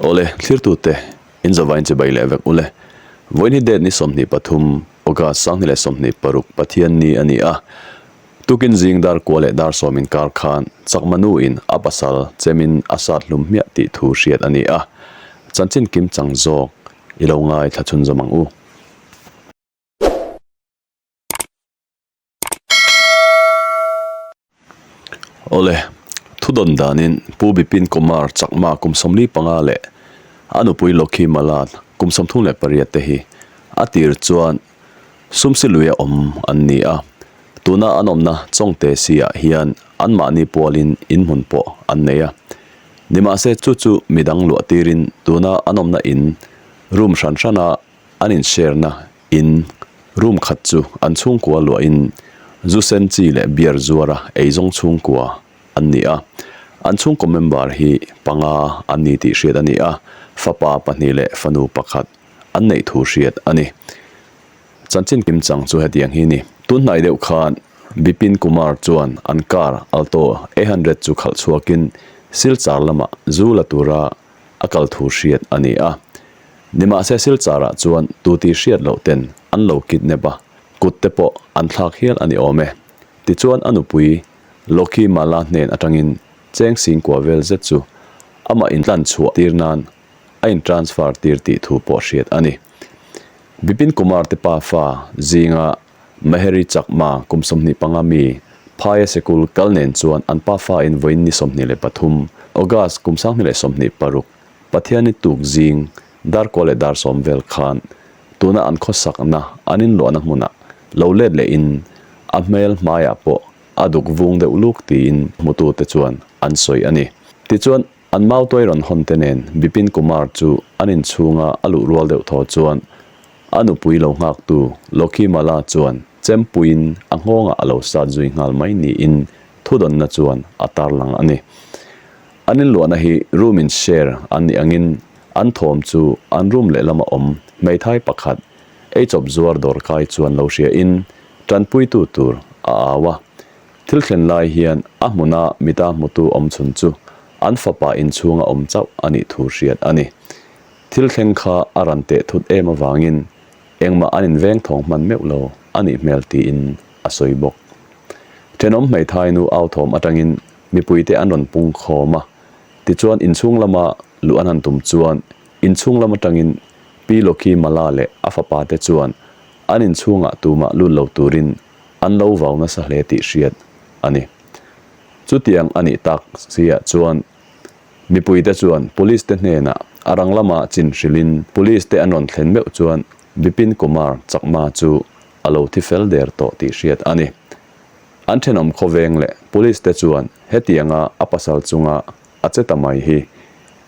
Awle, thlirtute, in zavain che bai leh vek u le. Vawiini date ni sawmhnih pathum, August sanghnih leh sawmhnih paruk Pathian ni a ni a. Tukin zing dar kua leh dar sawm inkar khan chak manu in a pasal chem in a sat hlum hmiah tih thu hriat a ni a. Chanchin kim chang zawk, i lo ngai thlachhun zawm ang u. Awle, thudawn danin Pu Bipin Kumar chakma Kumsawmli panga leh a nupui Lokhi Mala Kumsawmthung leh pariat te hi a tir chuan sumsi lui a awm an ni a. Tuna an awmna chawngte sihah hian an mahni pualin inhmun pawh an nei a. Nimahse chu chu midang luah tirin tuna an awmna in room hran hrana An inhriarna in room khat chu an chhungkua luahin zu sen chi leh beer zuara ei zawng chhungkua an ni a. An chhungkaw member hi panga an ni tih hriat a ni a, fapa pahnih leh fanu pakhat an neih thu hriat a ni. Chanchin kim chang chu hetiang hi a ni. Tunhnai deuh khan Bipin Kumar chuan an car Alto A hundred chu khalh chhuakin Silchar lamah zu la tura, a kal thu hriat a ni a. Nimahse Silchara chuan tu tih hriat loh ten an lo kidnap a, kut te pawh an thlak hial a ni awm e. Tichuan a nupui Lokhi Mala hnen atangin cheng sing kua vel zet chu amah in tlan chhuah tir nan a in transfer tir tih thu pawh hriat a ni. Bipin Kumar te pa fa zinga Meheri chakma kum sawmhnih panga mi Phaia Sekul kal nen chuan an pa fain vawiin ni sawmhnih leh pathum, August kum sanghnih leh sawmhnih paruk, Pathianni tuk zing, dar kual leh dar sawm vel khan tuna an khawsakna an inluahna hmuna lo let leh in a hmel hmaiah pawh a duk vung deuh luk tiin hmutute chuan an sawi a ni. Tichuan. An mau tuai rawn hawn te nen Bipin Kumar chu an inchhunga a luh rual deuh thaw chuan a nupui lo nghaktu Lokhi Mala chuan chempuiin a nghawngah a lo sat zui nghal mai niin thudawnna chuan a tar lang a ni. An inluahna hi room in share an nih angin an thawm chu an room lehlamah awm hmeithai pakhat eichawp zuar dawr kai chuan lo hriain tanpuitu tur a au a, Thil thlen lai hian a hmuna mita hmutu awm chhun chu an fapa inchhunga awm chauh a nih thu hriat a ni. Thil thleng kha a rawn teh thut em avangin engmah an inveng thawng hman meuh lo a nih hmel tiin a sawi bawk. Thenawm hmeithai nu au thawm atangin mipuite an rawn pungkhawm a, tichuan inchhung lama luh an han tum chuan inchhung lam atangin Pi Loki Mala leh a fapate chuan an inchhungah tumah lut lo turin an lo vau nasa hle tih hriat a ni. Chutiang a nih tak zia chuan mipuite chuan police te hnenah a rang lama chinhrilhin police te an rawn thlen meuh chuan Bipin Kumar chakma chu a lo thi fel der tawh tih hriat a ni. An thenawm khawveng leh police te chuan hetianga a pasal chunga a che ta mai hi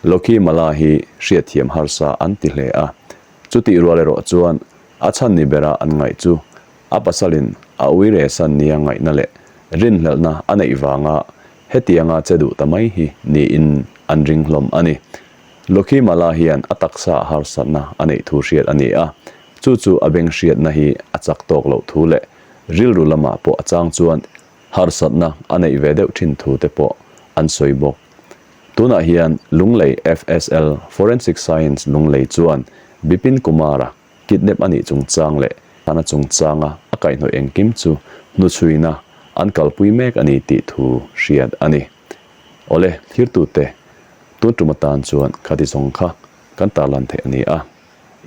Lokhi Mala hi hriatthiam harsa an ti hle a, chutih rual erawh chuan a chhan ni bera an ngaih chu. A pasalin a Uiresan nia ngaihna leh rinhlelhna a neih vanga hetianga che duh ta mai hi niin an ring hlawm a ni. Lucky Mala hian a taksa harsatna a neih thu hriat a ni a, chu chu a beng hriatna hi a chak tawk loh thu leh rilru lamah pawh a chang chuan harsatna a neih ve deuh thin thu te pawh an sawi bawk. Tunah hian Lunglei FSL, Forensic Science, Lunglei chuan Bipin Kumar-a Kidnap a nih chungchang leh hlan a chungchanga a kaihnawih engkim chu hnuchhuina an kalpui mek a ni tih thu hriat a ni. Awle, thirtute, tun tum atan chuan kha ti zawng kha kan tarlan theih a ni a,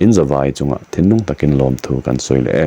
in zavai chunga thinlung takin lawmthu kan sawi leh e.